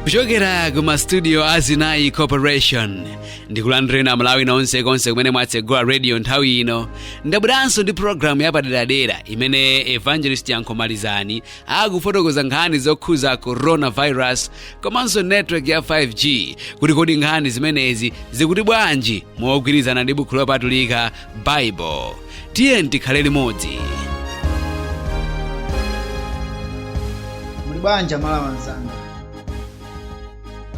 kuchokera ku mastudio a Sinai corporation ndikulandireni amalawi nonse nonse konse kumene mwatsegula radio nthawi ino ndabweranso ndi programu yapaderadera imene evangelist Yankho Malizani akufotokoza nkhani zokhuza coronavirus komanso network ya 5g kuti kodi nkhani zimenezi zikuti bwanji mogwirizana ndi bukhu lopatulika bible tiyeni tikhale limodzi muli bwanji amalawi anzanga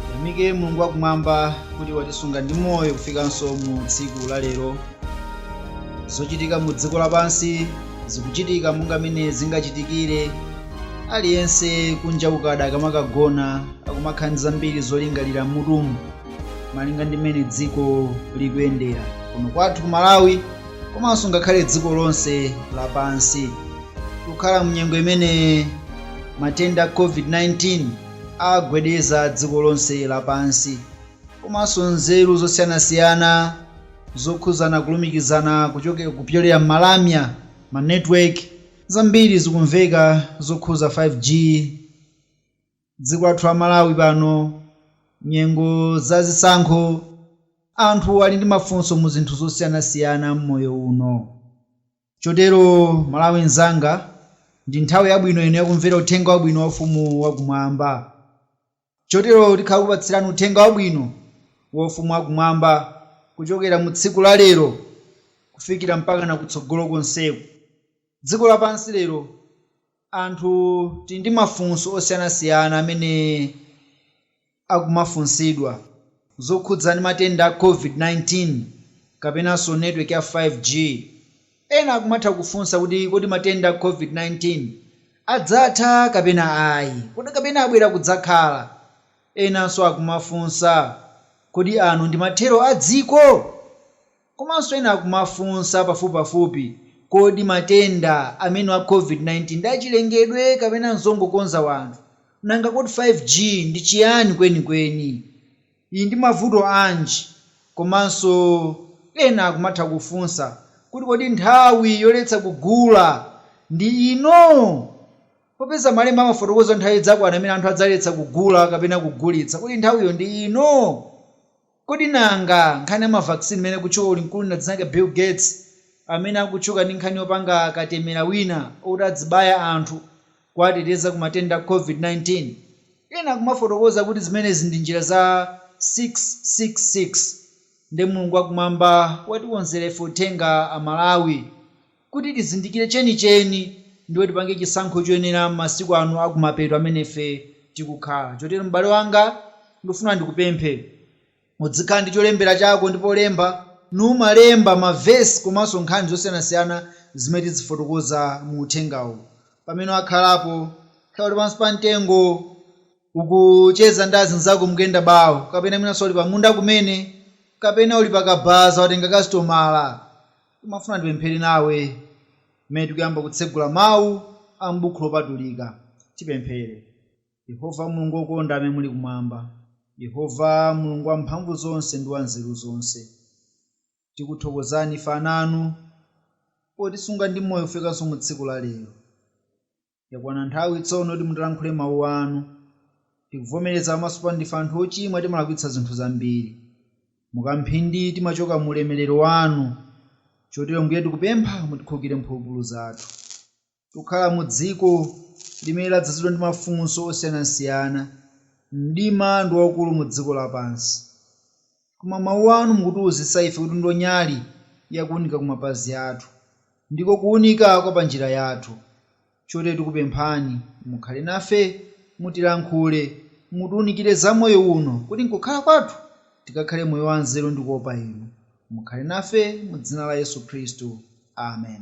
tiyamike mulungu wakumwamba kuti watisunga ndi moyo kufikanso mu tsiku la lero zochitika mu dziko lapansi zikuchitika monga mmene zingachitikire aliyense kunja kukada akamakagona akumakhala ndi zambiri zolingalira m'mutumu malinga ndi mmene dziko likuyendera kuno kwathu ku malawi komanso ngakhale dziko lonse lapansi tikukhala munyengo imene matenda a covid-19 agwedeza dziko lonse lapansi komanso nzeru zosiyanasiyana Zokhuzana kulumikizana kuchoka kupyolera mmalamya, ma network, zambiri zikumveka zokhuza 5G dziko lathu la Malawi pano nyengo za zisankho anthu ali ndi mafunso mu zinthu zosiyanasiyana mmoyo uno chotero Malawi nzanga ndi nthawi yabwino ino yakumvera uthenga wabwino wa ufumu wa kumwamba. Chotero tikhala kukupatsirani uthenga wabwino wa ufumu wa kumwamba kuchokera mu tsiku la lero kufikira mpakana kutsogolo konseku. Dziko lapansi lero anthu tili ndi mafunso osiyanasiyana amene akumafunsidwa. zokhudza ndi matenda a Covid-19 kapenanso network ya 5G Ena akumatha kufunsa kuti kodi matenda a COVID-19 adzatha kapena ayi? Kodi kapena abwera kudzakhala? Enanso akumafunsa, Kodi ano ndi mathero a dziko? Komanso ena akumafunsa pafupipafupi, Kodi matenda amenewa a COVID-19 ndi achilengedwe kapena n'zongokonza anthu? Nanga kodi 5G ndi chiyani kwenikweni? ili ndi mavuto anji komanso ena akumatha kufunsa kuti kodi nthawi yoletsa kugula ndi ino? Popeza malemba amafotokoza nthawi idzakwana imene anthu adzaletsa kugula kapena kugulitsa, kodi nthawiyo ndi ino? Kodi nanga nkhani ya ma vaccine imene ikutchuka uli mkulu dzina lake Bill Gates amene akutchuka ndi nkhani yopanga katemera wina oti adzibaya anthu kuwateteza ku matenda a COVID-19. Ena akumafotokoza kuti zimenezi ndi njira za 666. Nde Mulungu wakumwamba watikonzera ife uthenga a Malawi kuti tizindikire chenicheni ndipo tipange chisankho choyenera m'masiku ano a kumapeto amene ife tikukhala. Chotero m'bale wanga, ndikufuna ndikupemphe. Udzikhala ndi cholembera chako ndi polemba, n'umalemba ma verse komanso nkhani zosiyanasiyana zimene tidzifotokoza mu uthengawu. Pamene wakhalapo, kaya uli pansi pa mtengo, ukucheza ndi azinzako mukuyenda bawo, kapena mwinanso uli pamunda kumene, kapena uli pa kabaza watenga kasitomala, ndimafuna ndipemphere nawe pamene tikuyamba kutsegula mawu a m'Buku Lopatulika. Tipemphere. Yehova Mulungu wokonda amene muli kumwamba, Yehova Mulungu wamphamvuzonse ndi wanzeruzonse, tikuthokozani ife ana anu potisunga ndi moyo kufikanso mu tsiku la lero. Yakwana nthawi tsono yoti mutilankhule mawu anu. Tikuvomereza pamaso panu ndife anthu ochimwa timalakwitsa zinthu zambiri. Mukamphindi timachoka mu ulemerero wanu. Chotero Mbuye tikupempha mutikhulukire mphulupulu zathu. Tikukhala mu dziko limene ladzazidwa ndi mafunso osiyanasiyana. Mdima ndi waukulu mu dziko lapansi. Koma Mawu anu mukutiuzitsa ife kuti ndilo nyali ya kuunika ku mapazi athu. Ndiko kuunika kwa pa njira yathu. Chotero tikupemphani, mukhale nafe, mutilankhule, mutiunikire za moyo uno, kuti m'kukhala kwathu tikakhale moyo wa nzeru ndi kuopa Inu. Mukhale nafe, mu dzina la Yesu Khristu. Amen.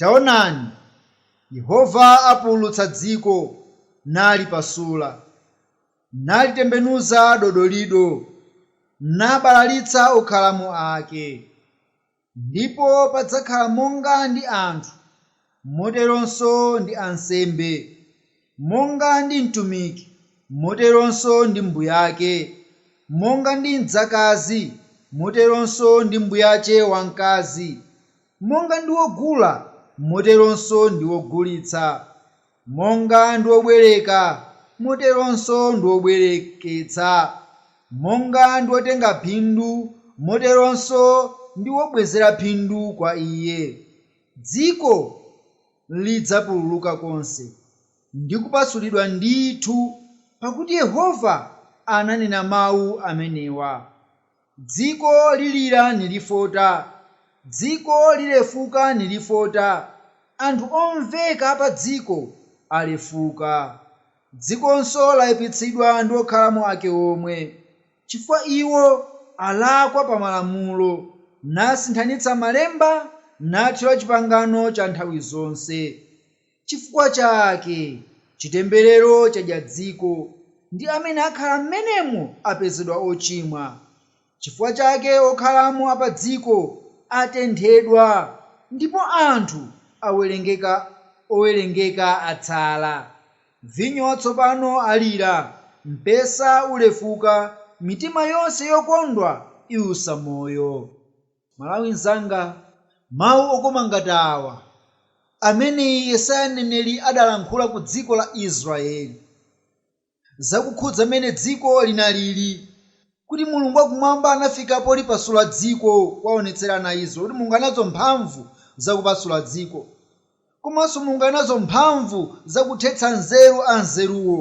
Taonani, Yehova apululutsa dziko, nalipasula, nalitembenuza dodolido, nabalalitsa okhalamo ake, ndipo padzakhala monga ndi anthu, moteronso ndi ansembe, monga ndi mtumiki, moteronso ndi mbuyake, monga ndi mdzakazi, moteronso ndi mbuyache wamkazi. Monga ndi wogula, moteronso ndi wogulitsa, monga ndi wobwereka, moteronso ndi wobwereketsa, monga ndi wotenga phindu, moteronso ndi wobwezera phindu kwa iye. Dziko lidzapululuka konse, ndi kupasulidwa ndithu, pakuti Yehova ananena mawu amenewa. Dziko lilira nilifota, dziko lilefuka nilifota, anthu omveka a padziko alefuka. Dzikonso laipitsidwa ndi okhalamo ake omwe, chifukwa iwo alakwa pa malamulo, nasinthanitsa malemba, nathyola chipangano cha nthawi zonse. Chifukwa chake chitemberero chadya dziko, ndi amene akhala m'menemo apezedwa ochimwa. Chifukwa chake okhalamo a padziko atenthedwa, ndipo anthu owerengeka atsala. Vinyo watsopano alira, mpesa ulefuka, mitima yonse yokondwa iusa moyo. Malawi nzanga, mau okoma ngati awa amene Yesaya mneneri adalankhula ku dziko la Israyeli zakukhudza mmene dziko linalili, kuti Mulungu wa Kumwamba anafika polipasula dziko kuwaonetsera ana a Israyeli kuti Mulungu ali nazo mphamvu zakupasula dziko, komanso Mulungu ali nazo mphamvu zakuthetsa nzeru anzeruwo.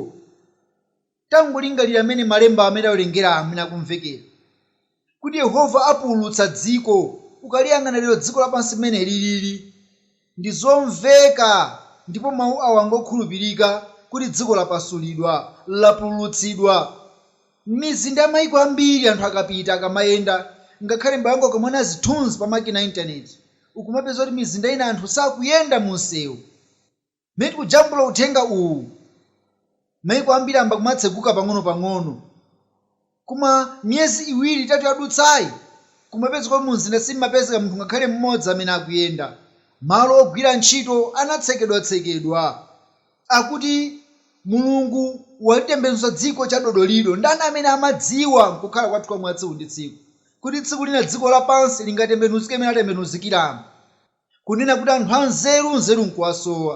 Tangolingalira mmene malemba amene tawerenga amene akumvekera, kuti Yehova apululutsa dziko. Ukaliyang'ana lero dziko lapansi mmene lilili, ndi zomveka ndipo mawu awa ngokhulupirika kuti dziko lapasulidwa, lapululutsidwa. M'mizinda ya maiko ambiri anthu akapita, akamayenda, ngakhale m'bale wanga ukamaona zithunzi pa makina a intaneti, ukumapeza kuti mizinda ina anthu sakuyenda mu msewu. Mmene tikujambula uthenga uwu, maiko ambiri ayamba kumatseguka pang'onopang'ono. Koma miyezi iwiri itatu yadutsayi, kumapezeka kuti mumzinda simapezeka munthu ngakhale mmodzi amene akuyenda. Malo ogwira ntchito anatsekedwatsekedwa. Akuti Mulungu walitembenuza dziko chadodolido. Ndani amene amadziwa m'kukhala kwathu kwa mwatsiku ndi tsiku kuti tsiku lina dziko lapansi lingatembenuzike mmene latembenuzikiramu? kunena kuti anthu anzeru, nzeru n'kuwasowa,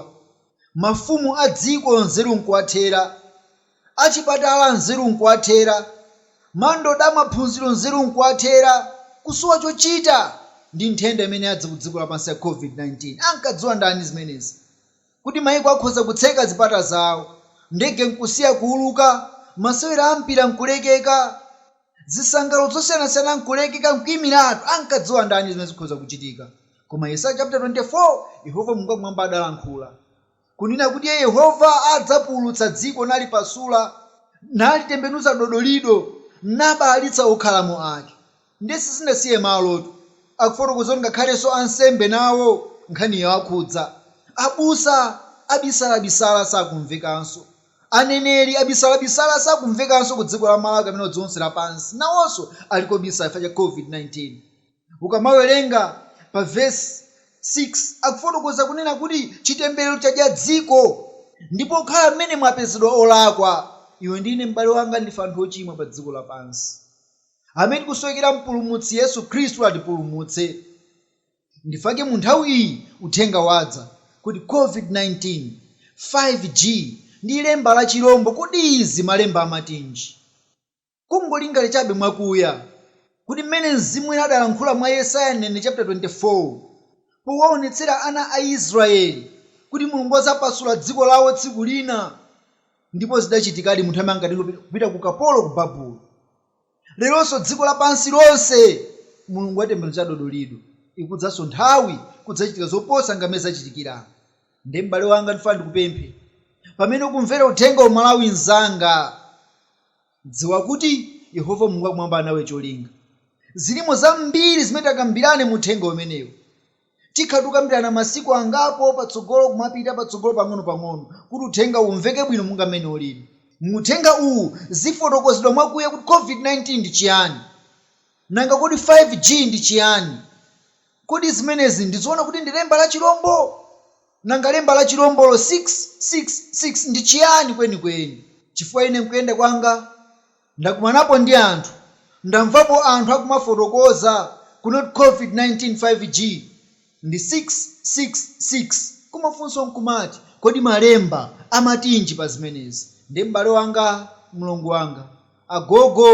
mafumu a dziko nzeru n'kuwathera, achipatala nzeru n'kuwathera, mandoda a maphunziro nzeru n'kuwathera, kusowa chochita ndi nthenda imene yadza kudziko lapansi ya Covid-19. Ankadziwa ndani zimenezi? kuti mayiko akhoza kutseka zipata zawo, ndege n'kusiya kuuluka, masewero a mpira n'kulekeka, zisangalalo zosiyanasiyana n'kulekeka n'kuimiratu. Ankadziwa ndani zimenezi zikhoza kuchitika? Koma Yesaya chaputala 24, Yehova Mulungu wakumwamba adalankhula, kunena kuti Iye Yehova adzapululutsa dziko nalipasula, nalitembenuza dodolido, nabalalitsa okhalamo ake. Ndiye sizinasiye malotu. Akufotokoza kuti ngakhalenso ansembe nawo nkhaniyi yawakhudza. Abusa abisalabisala sakumvekanso. Aneneri abisalabisala sakumvekanso kudziko la Malawi kapena kudziko lonse lapansi. Nawonso ali kobisala chifukwa cha COVID-19. Ukamawerenga pa vesi 6, akufotokoza kunena kuti chitemberero chadya dziko. Ndipo okhala mmenemo apezedwa olakwa. Iwe ndi ine, m'bale wanga, ndife anthu ochimwa padziko lapansi. amene tikusowekera mpulumutsi yesu khristu atipulumutse ndifake munthawi iyi uthenga wadza kuti covid 19 5G ndi lemba la chilombo kodi izi malemba amatinji kungolingali chabe mwakuya kuti mmene mzimu woyera adalankhula mwa yesaya mneneri chaputala 24 powaonetsera ana a israeli kuti mulungu azapasula dziko lawo tsiku lina Ndipo zidachitikadi anthu aja anatengedwa kupita, kupita ku ukapolo ku Babulo. Leronso dziko lapansi lonse, Mulungu watembenuza dodolido. Ikudzanso nthawi, kudzachitika zoposa monga m'mene zachitikira apa. Nde m'bale wanga ndifuna ndikupemphe, pamene ukumvera uthengawu Malawi nzanga, dziwa kuti Yehova Mulungu wakumwamba ali nawe cholinga. Zilimo zambiri zimene tikambirane mu uthenga umenewu. Tikhala tikukambirana masiku angapo patsogolo kumapita patsogolo pang'ono pang'ono kuti uthengawu umveke bwino monga mmene ulili. Mu uthenga uwu zifotokozedwa mwakuya kuti COVID-19 ndi chiyani. Nanga kodi 5G ndi chiyani? Kodi zimenezi ndi zoona kuti ndi lemba la chilombo? Nanga lemba la chilombolo 666 ndi chiyani kwenikweni? Chifukwa ine mkuyenda kwanga. Ndakumanapo ndi anthu, ndamvapo anthu akumafotokoza kuti covid 19 5G ndi 6 6 6 koma funso nkumati kodi malemba amatinji pa zimenezi nde m'bale wanga, mlongo wanga, agogo,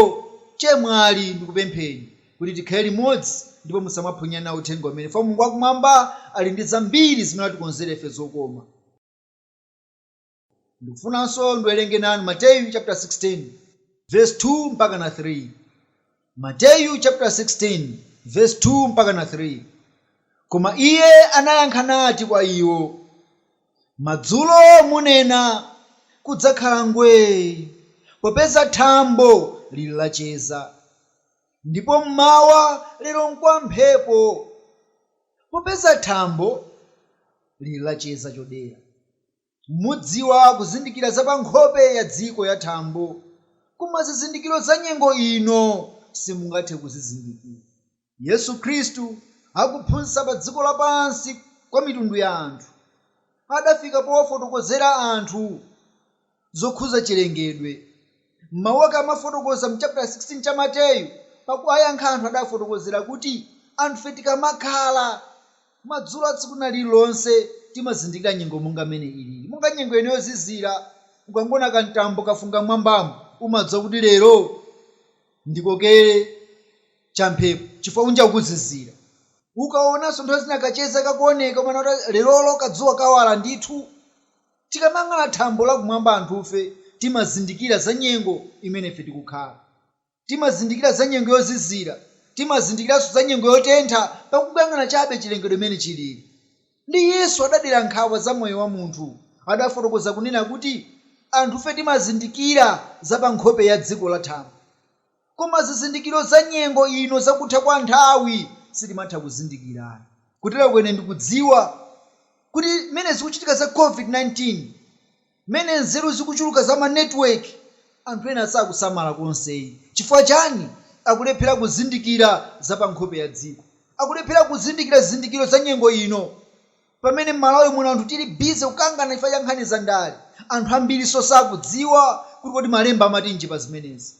chemwali ndikupempheni kuti tikhale limodzi ndipo musamaphonye nawo uthenga umenewu chifukwa Mulungu wakumwamba ali ndi zambiri zimene watikonzera ife zokoma. Ndikufunanso ndiwerenge nanu Mateyu chaputala 16 vesi 2 mpakana 3. Mateyu chaputala 16 vesi 2 mpakana 3 Koma Iye anayankha nati kwa iwo, Madzulo munena, Kudzakhala ngwee, popeza thambo liri lacheza, ndipo m'mawa, Lero nkwa mphepo, popeza thambo liri lacheza chodera. Mudziwa kuzindikira za pa nkhope ya dziko ya thambo, koma zizindikiro za nyengo ino simungathe kuzizindikira. Yesu Khristu akuphunzitsa pa dziko lapansi kwa mitundu ya anthu, adafika powafotokozera anthu zokhudza chilengedwe. M'mau ake amafotokoza m'chaputala 16 cha Mateyu, pakuwayankha anthu adawafotokozera kuti anthufe tikamakhala, madzulo a tsiku lina lililonse timazindikira nyengo monga m'mene iliri. Monga nyengo ino yozizira, ukangoona kamtambo kafunga m'mwambamu, umadziwa kuti lero ndikokere champhepo chifukwa kunja kukuzizira. Ukaonanso nthawi zina kacheza kakuoneka, umanena kuti lerolo kadzuwa kawala ndithu. Tikamayang'ana thambo lakumwamba anthufe timazindikira za nyengo imene ife tikukhala. Timazindikira za nyengo yozizira. Timazindikiranso za nyengo yotentha pakungoyang'ana chabe chilengedwe mmene chilili. Nde Yesu adadera nkhawa za moyo wa munthu. Adafotokoza kunena kuti anthufe timazindikira za pa nkhope ya dziko la thambo. Koma zizindikiro za nyengo ino za kutha kwa nthawi sitimatha kuzindikira ayi. Kuteroko ine ndikudziwa kuti mmene zikuchitika za Covid-19, mmene nzeru zikuchuluka za ma network, anthu ena sakusamala konse ayi. Chifukwa chani? Akulephera kuzindikira za pa nkhope ya dziko. Akulephera kuzindikira zizindikiro za nyengo ino. Pamene mmalawi muno anthu tili busy kukangana chifukwa cha nkhani za ndale, anthu ambirinso sakudziwa kuti kodi malemba amatinji pa zimenezi.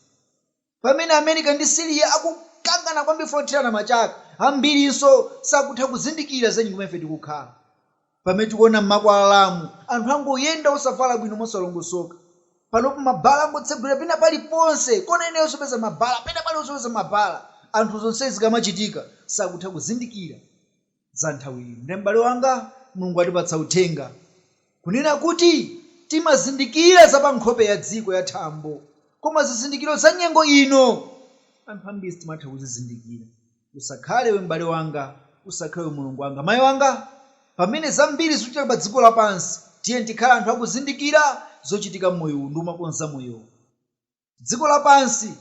Pamene America ndi Syria akukangana kwambiri chifukwa chothirana mabomba, ambirinso sakutha kuzindikira za nyengo imene ife tikukhala. Pamene tikuona mmakwalalamu anthu angoyenda osavala bwino mosalongosoka. Panopo ma bar angotsegulira pena pali ponse, kona ina iliyonse upeza ma bar, pena pali ponse upeza ma bar. Anthu zonsezi zikamachitika sakutha kuzindikira. za nthawi ino. Nde m'bale wanga, Mulungu watipatsa uthenga, kunena kuti, timazindikira za pa nkhope ya dziko ya thambo, koma zizindikiro za nyengo ino, anthu ambiri sitimatha kuzizindikira. Usakhale iwe m'bale wanga, usakhale iwe mulongo wanga, mai wanga, pamene zambiri zikuchitika pa dziko lapansi, tiyeni tikhale anthu akuzindikira zochitika m'moyo uwu ndi kumakonza moyowo. dziko lapansi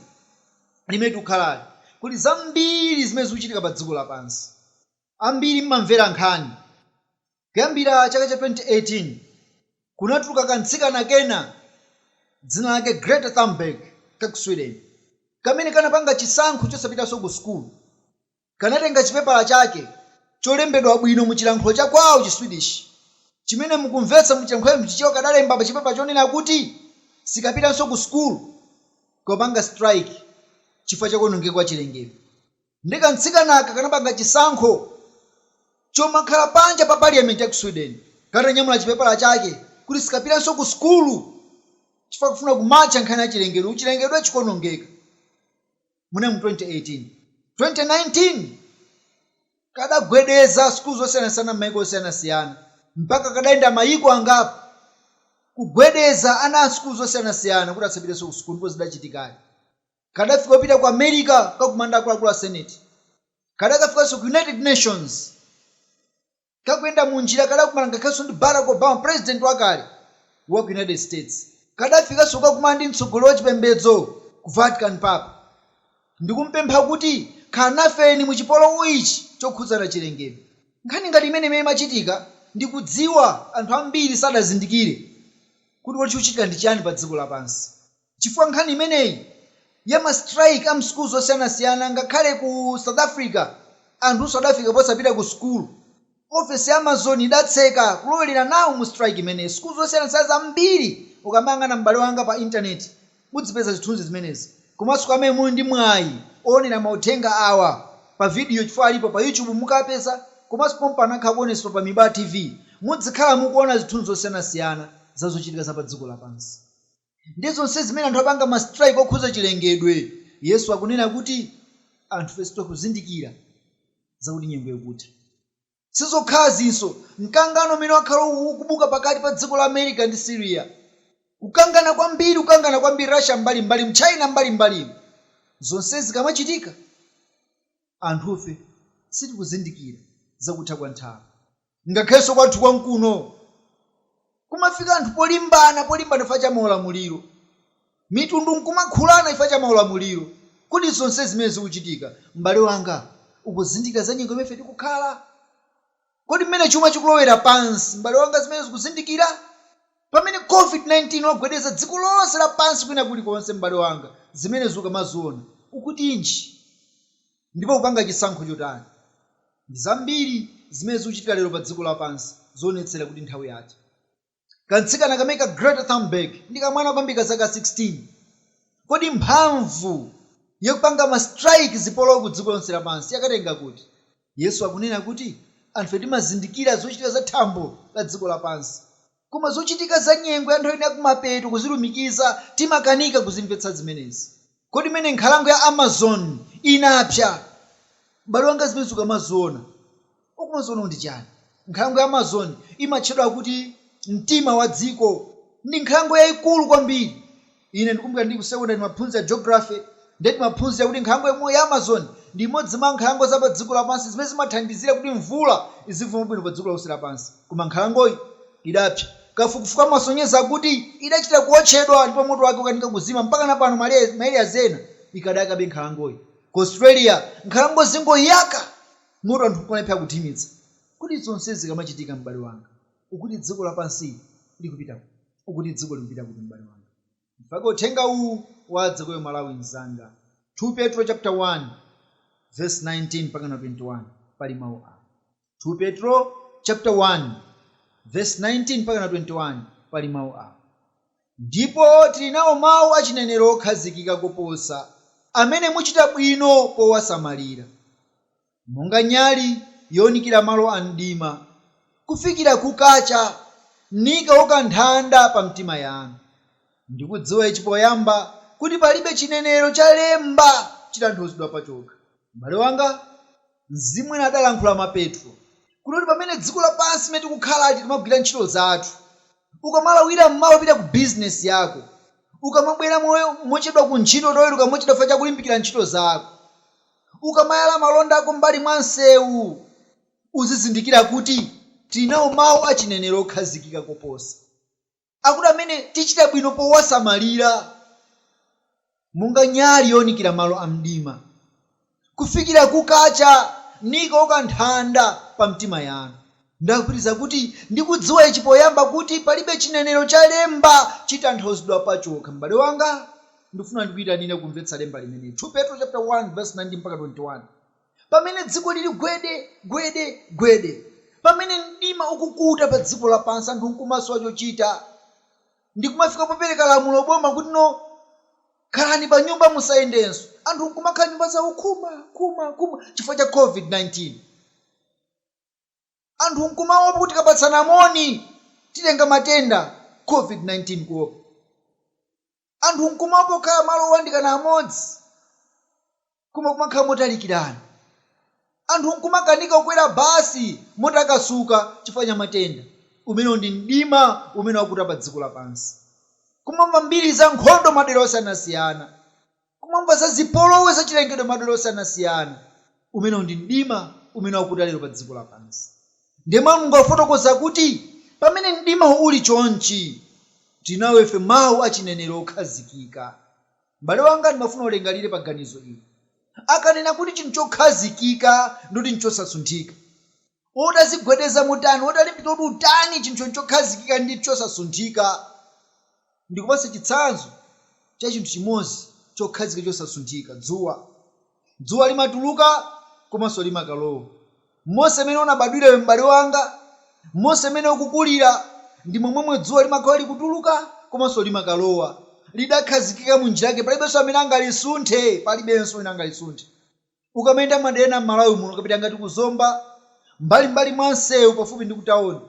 limene tikukhalali, kuti zambiri zimene zikuchitika pa dziko lapansi. Ambiri mumamvera nkhani. Kuyambira chaka cha 2018, kunatuluka kamtsikana kena dzina lake Greta Thunberg ka ku Sweden, kamene kanapanga chisankho chosapitanso ku sukulu. kanatenga chipepala chake cholembedwa bwino mu chilankhulo cha kwawo chi Swedish chimene mu kumvetsa mu chilankhulo cha mu Chichewa kadalemba pa chipepala chonena kuti sikapitanso ku school kukapanga strike chifukwa cha kuonongeka kwa chilengedwe nde ka mtsikanaka kanapanga chisankho chomakhala panja pa parliament ya ku Sweden katanyamula chipepala chake kuti sikapitanso ku school chifukwa kufuna kumarcha nkhani ya chilengedwe chilengedwe chikuonongeka. munali mu 2018. 2019 kadagwedeza sukulu zosiyanasiyana m'mayiko osiyanasiyana mpaka kadayenda mayiko angapo kugwedeza ana a sukulu zosiyanasiyana kuti asapitenso kusukulu ndipo zidachitikadi. Kadafika kupita ku America kukakumana ndi akuluakulu a Senate. Kadakafikanso ku United Nations. kakuyenda m'njira kadakumana ngakhalenso ndi Barack Obama president wakale waku United States, kadafikanso kukakumana ndi mtsogoleri wachipembedzo ku Vatican Papa ndikumpempha kuti khalani nafeni mu chipolowe ichi chokhudzana chilengedwe. Nkhani ngati imeneyi imene imachitika ndikudziwa anthu ambiri sadazindikire kuti kodi chikuchitika ndi chiyani pa dziko lapansi. chifukwa nkhani imeneyi ya ma strike a mu sukulu zosiyanasiyana ngakhale ku south africa anthunso adafika posapita ku sukulu ofesi ya amazon idatseka kulowelera nawo mu strike imeneyi sukulu zosiyanasiyana zambiri ukamayang'ana m'bale wanga pa internet udzipeza zithunzi zimenezi komanso kwa amene muli ndi mwayi owonera mauthenga awa pa video chifukwa alipo pa youtube mukawapeza komanso pompano akhala akuonetsedwa pa mibaa tv mudzikhala mukuona zithunzi zosiyanasiyana za zochitika za padziko lapansi. ndi zonse zimene anthu apanga ma strike okhudza chilengedwe Yesu akunena kuti anthufe sitikuzindikira zakuti nyengo ikutha. Sizokhazinso, mkangano umene wakhala ukubuka pakati pa dziko la America ndi Syria, kukangana kwambiri kukangana kwambiri Russia mbali mbalimu China mbali mbalimu zonsezi zikamachitika anthufe sitikuzindikira zakutha kwa nthawi. Ngakhalenso kwathu kwamkuno kumafika anthu polimbana polimbana chifukwa cha maulamuliro. Mitundu nkumakhulana chifukwa cha maulamuliro. Kodi zonsezi zimene zikuchitika, m'bale wanga, ukuzindikira za nyengo imene ife tikukhala? Kodi mmene chuma chikulowera pansi, m'bale wanga, zimenezo ukuzindikira? Pamene COVID-19 wagwedeza dziko lonse lapansi kwina kulikonse, m'bale wanga, zimenezo ukamaziona, ukuti chiyani? Ndipo ukupanga chisankho chotani? Ndi zambiri zimene zikuchitika lero pa dziko lapansi zoonetsera kuti nthawi yatha. Kamtsikana kameneka Greta Thunberg ndi kamwana kwambiri ka zaka 16. Kodi mphamvu ya kupanga ma strike zipolowe ku dziko lonse lapansi yakatenga kuti? Yesu akunena kuti anthufe timazindikira zochitika za thambo la dziko lapansi Koma zochitika za nyengo ya nthawi ino ya kumapeto kuzilumikiza timakanika kuzimvetsa zimenezi. Kodi mmene nkhalango ya Amazon inapsa, m'bale wanga zimenezi ukamaziona, ukumaziona ndi chiyani? Nkhalango ya Amazon imatchedwa kuti mtima wa dziko. Ndi nkhalango yaikulu kwambiri Ine ndikumbukira ndi ku sekondale timaphunzira geography ndiye timaphunzira kuti nkhalango yomweyo ya Amazon ndi imodzi mwa nkhalango za padziko lapansi zimene zimathandizira kuti mvula izivumba mwabwino padziko lonse lapansi. Koma nkhalangoyi idapsa. Kafukufuku amasonyeza kuti idachita kuotchedwa ndipo moto wake ukukanika kuzima. Mpakana pano ma areas ena ikadayakabe nkhalangoyi. Ku Australia nkhalango zikungoyaka moto anthu nkumalephera kuthimitsa. Kodi zonsezi zikamachitika m'bale wanga ukuti dziko lapansili likupita kuti? ukuti dziko likupita kuti m'bale wanga? Mpake uthenga uwu wadze kwa iwe Mmalawi mnzanga 2 Petro chapter 1 verse 19-21 pali mau awa 2 Petro chapter 1 verse 19-21 pali mau awa Ndipo tili nawo mau a chinenero okhazikika koposa, amene muchita bwino powasamalira. monga nyali younikira malo a mdima, kufikira kukacha, nikauka nthanda pa mtima yanu. Ndikudziwa ichi poyamba, kuti palibe chinenero cha lemba chitanthauzidwa pachokha. M'bale wanga, Mzimu unadalankhula mwa Petro, kunena kuti pamene dziko lapansi limene tikukhalali tikamagwira ntchito zathu, ukamalawira m'mawa upita ku bizinesi yako, ukamabwera mochedwa ku ntchito utaweruka mochedwa chifukwa cha kulimbikira ntchito zako. Ukamayala malonda ako m'mbali mwa msewu, uzizindikira kuti tili nawo mawu achinenero okhazikika koposa akuti amene tichita bwino powasamalira monga nyali younikira malo amdima, kufikira kukacha, nikauka nthanda pa mtima yanu. Ndipitiriza kuti, Ndikudziwa ichi poyamba, kuti palibe chinenero cha lemba chitanthauzidwa pachokha. M'bale wanga, ndikufuna ndikuitanire kumvetsa lemba limeneli, 2 Petro chapter 1 verse 19-21. Pamene dziko lili gwede, gwede, gwede, pamene mdima ukukuta pa dziko lapansi, anthu nkumasowa chochita, ndikumafika popereka lamulo boma kuti no khalani panyumba musayendenso, anthu nkumakhala nyumba zawo khuma, khuma, khuma chifukwa cha covid 19. anthu nkumaopa kuti tikapatsana moni titenga matenda Covid-19 kuopa. Anthu nkumaopa kukhala malo oyandikana amodzi koma kumakhala motalikirana. Anthu nkumakanika kukwera basi motakasuka chifukwa cha matenda. Umenewo ndi mdima umene wakuta padziko lapansi. Kumamva mbiri za nkhondo madera osiyanasiyana. kumamva za zipolowe za chilengedwe madera osiyanasiyana. Umenewu ndi mdima umene wakuta lero pa dziko lapansi. Ndiye mawu a Mulungu akufotokoza kuti pamene mdimawo uli chonchi, tili nawo ife Mau a chinenero okhazikika. M'bale wanga ndimafuna ulingalire pa ganizo ili. Akanena kuti chinthu chokhazikika ndi chinthu chosasunthika. utachigwedeza motani, utalimbika kuti utani, chinthu chokhazikika ndi chosasunthika. Ndikupatse chitsanzo cha chinthu chimodzi chokhazikika chosasunthika, dzuwa. Dzuwa limatuluka komanso limakalowa. Monse mmene unabadwira iwe m'bale wanga, monse mmene ukukulira, ndi momwemwe dzuwa limakhala likutuluka komanso limakalowa. Lidakhazikika mu njira yake, palibenso amene angalisunthe, palibenso wina angalisunthe. Ukamayenda m'madera ena m'Malawi muno, ukapita ngati ku Zomba, m'mbalim'mbali mwa msewu pafupi ndi kutaoni,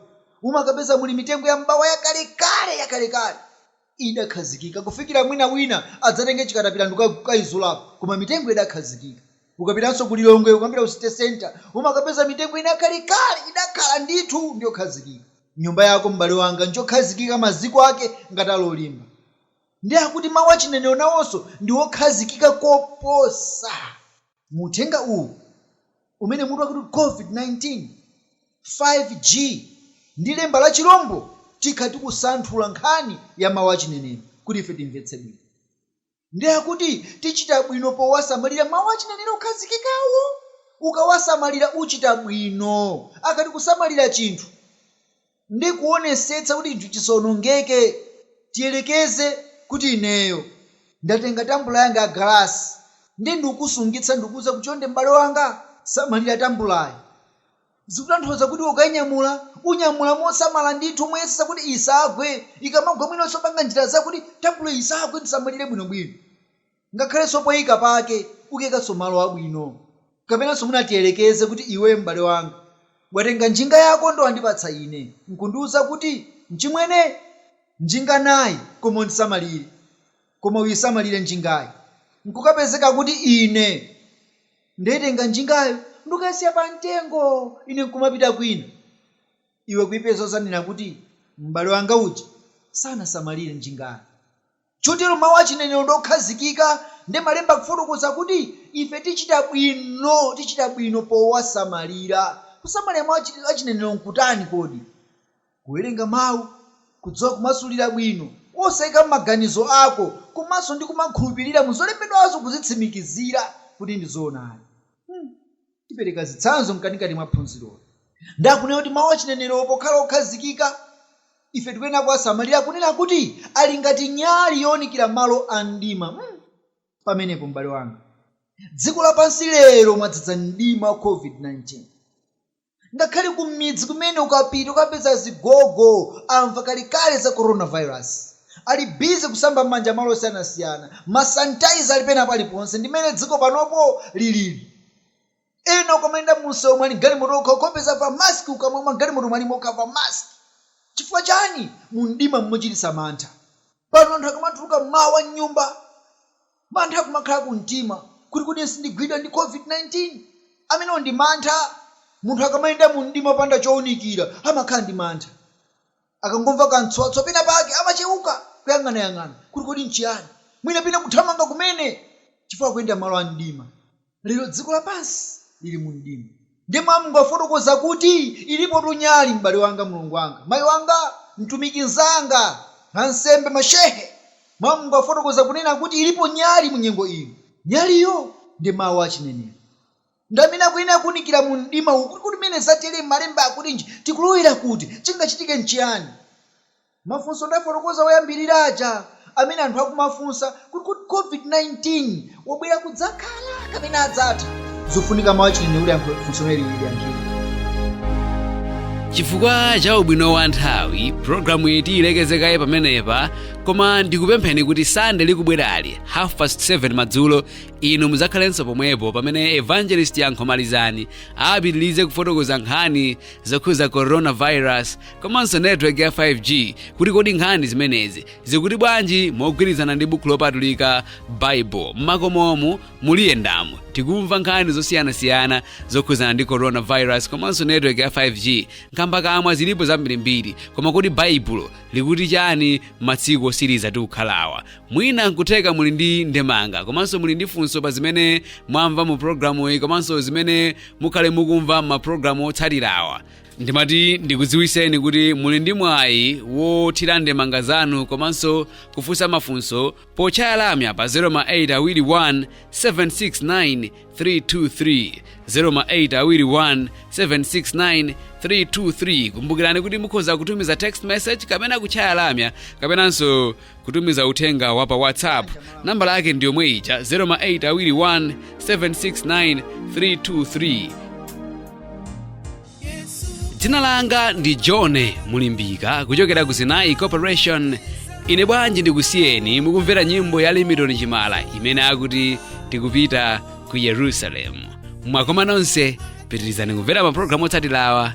umakapeza muli mitengo ya m'bawa yakalekale, yakalekale, idakhazikika kufikira mwina wina adzatenge chikatapila ndikukaizulapo, koma mitengo idakhazikika. Ukapitanso ku Lilongwe, ukamapita ku City Centre, umakapeza mitengo ina yakalekale, idakhala ndithu ndi yokhazikika. Nyumba yako, m'bale wanga, njokhazikika, maziko ake ngati ali olimba. Ndi akuti mawu achinenero nawonso ndi okhazikika koposa. Mu uthenga uwu umene mutu wake ukuti COVID-19, 5G, ndi lemba la chilombo, tikhala tikusanthula nkhani ya mawu achinenero kuti ife timvetse bwino. Ndi akuti tichita bwino powasamalira mawu achinenero okhazikikawo. Ukawasamalira uchita bwino. Akati kusamalira chinthu. ndi kuwonesetsa kuti chinthu chisawonongeke. Tiyerekeze kuti ineyo ndatenga tambula yanga ya galasi ndiye ndikukusungitsa ndikukuuza kuti, Chonde m'bale wanga, samalira tambulayi. Zikutanthauza kuti ukainyamula, unyamula mosamala ndithu, moyesetsa kuti isagwe. Ikamagwa mwinanso panga njira zakuti tambula isagwe, uisamalire bwinobwino. Ngakhalenso poika pake ukaikanso malo abwino. Kapenanso mwina tiyerekeze kuti iwe m'bale wanga, watenga njinga yako ndipo wandipatsa ine, n'kundiuza kuti, Mchimwene, njinga nayi, koma usamalire. Koma uisamalire njingayi. N'kukapezeka kuti ine ndaitenga njingayo ndi kukaisiya pamtengo, ine n'kumapita kwina. Iwe kuipeza udzanena kuti, M'bale wanga uja sanasamalire njingayi. Chotero mawu a chinenero ndi okhazikika, ndi Malemba akufotokoza kuti ife tichita bwino, tichita bwino powasamalira. Kusamalira mawu a chinenero n'kutani kodi? Kuwerenga mawu, kudziwa kumasulira bwino, osaika m'maganizo ako, komanso ndi kumakhulupirira mu zolembedwazo kuzitsimikizira kuti ndi zoonadi. Hmm. Tipereka zitsanzo mkatikati mwa phunziroli. Ndi akunena kuti mawu achinenerowo pokhala okhazikika, ife tikuyenera kuwasamalira kunena kuti ali ngati nyali younikira malo a mdima. Hmm! Pamenepo, m'bale wanga, dziko lapansi lero mwadzadza mdima wa COVID-19. Ngakhale kumidzi kumene ukapita ukapeza azigogo amva kalekale za coronavirus. Ali busy kusamba m'manja malo osiyanasiyana. Ma sanitizer ali pena paliponse. Ndi mmene dziko panopo lilili. ena ukamayenda mumsewu ali m'galimoto okha ukawapeza pa mask kukamwa m'galimoto ali okha pa mask chifukwa chani mumdima mmochititsa mantha pano anthu akamatuluka mmawa mnyumba mantha akumakhala kumtima kuti kodi sindigwidwa ndi covid 19 amenewo ndi mantha munthu akamayenda mumdima opanda chounikira amakhala ndi mantha. Akangomva kamtswatswa penapake, amacheuka, kuyang'anayang'ana kuti kodi n'chiyani, mwina pena kuthamanga kumene chifukwa akuyenda m'malo a mdima. Lero dziko lapansi lili mu mdima. Ndiye mawu a Mulungu afotokoza kuti, Ilipotu nyali, m'bale wanga, mlongo wanga, mayi wanga, mtumiki mnzanga, ansembe, ma shehe. Mawu a Mulungu afotokoza kunena kuti ilipo nyali mu nyengo ino. Nyaliyo ndi mawu a chinenero. Ndi amene akuyenera kuunikira mu mdima uwu, kuti kodi pamene zatere malemba akutinji, tikulowera kuti, chingachitike nchiyani? Mafunso ndafotokoza oyambirira aja amene anthu akumafunsa kuti kodi Covid-19 wabwera kudzakhala kapena adzatha? Zufunika mawu achinenero kuti ayankhe funso limeneli liyankhidwe. Chifukwa cha ubwino wa nthawi, programuyi tiyilekeze kaye pamenepa, koma ndikupempheni kuti Sande likubwerali, half past 7 madzulo, inu mudzakhalenso pomwepo pamene evangelist yankho malizani apitirize kufotokoza nkhani zokhuza coronavirus komanso network ya 5g kuti kodi nkhani zimenezi zikuti bwanji mogwirizana ndi buku lopatulika baibulo mmakomomu mmaliyendamo tikumva nkhani zosiyanasiyana zokhuzana ndi coronavirus komanso network ya 5g nkhamba kamwa zilipo zambirimbiri koma kodi baibulo likuti chani matsiku otsiriza tikukhalawa mwina nkutheka muli ndi ndemanga komanso muli ndi funso pa zimene mwamva mu programu iyi komanso zimene mukhale mukumva m'mapulogalamu otsatirawa ndimati ndikudziwiseni kuti muli ndi mwayi wothira ndemanga zanu komanso kufunsa mafunso potchaya lamya pa 0 ma 8 awiri 1 769 323 0 ma 8 awiri 1 769 323 kumbukirani kuti mukhoza kutumiza text message kapena kutchaya lamya kapenanso kutumiza uthenga wa pa whatsapp nambala yake ndi yomwe ija 0 ma 8 awiri 1 769 323 dzina langa ndi john mulimbika kuchokera ku zinayi corporation ine bwanji ndikusiyeni mukumvera nyimbo ya limitoni chimala imene akuti tikupita ku yerusalemu mwakoma nonse pitirizani kumvera mapulogalamu otsatirawa